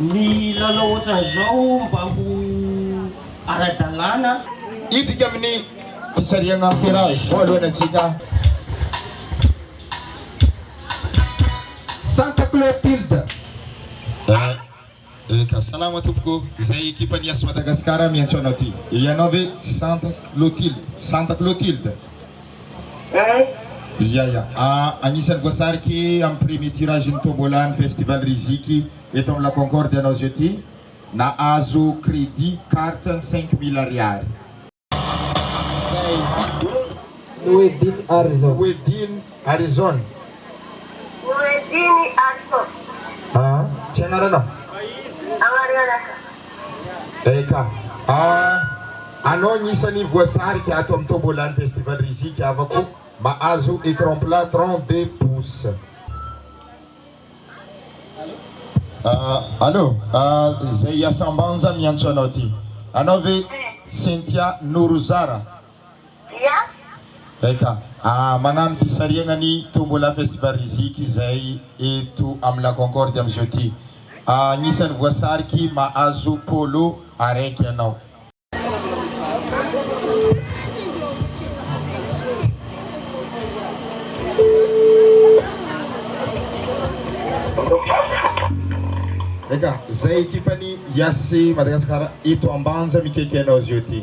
Ny lalao ohatran'izao mba ho ara-dalàna. Hidika amin'ny fisarihana ferrage voalohany antsika. Santa Clotilde. Eh eka, salama tompoko, izay ekipan'ny Yas Madagascar miantso anao ity. Ianao ve Santa Clotilde? Santa Clotilde. Eeh. Ia ia. Agnisan'ny voasariky amin'ny premier tirage-n'ny tombola ny festival Riziki eto amin'ny La Concorde ianao zao ty. Nahazo crédit carte ny cinq mille ariary. Zay mandroso Mouedine Harrison. Mouedine Harrison. Mouedine Harrison. Aa tsy agnaranao? Agnarana. Eka. Ah, anao ny isany voasarika ato amin'ny Tombola ny Festival Rizika havako mahazo écran plat trente deux pouces. Ah, allo, ah, izay Iasambanja miantso anao ty. Anao ve Cynthia Norozara? dia. Eka! Aa! Magnano fisarihagna ny Tombola Festival Riziki izay eto amin'ny La Concorde amin'izao ty. Aa! Agnisan'ny voasariky mahazo polo araiky ianao. Eka! Izay ekipan'ny Yas Madagascar eto Ambanja mikaiky anao izao ty.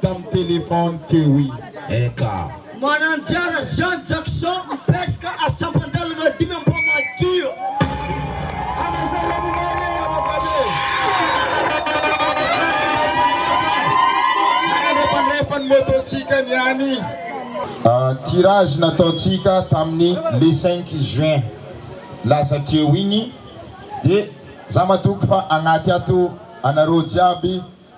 tamin'ny téléphone teo i Eka. Mananjara Jean Jackson mipetraka a Sampandalana dimy Ampamadio. Fandraisan'ny moto-tsika ny any. Tirage nataontsika tamin'ny le cinq juin lasa teo iny dia za matoky fa agnaty ato anareo jiaby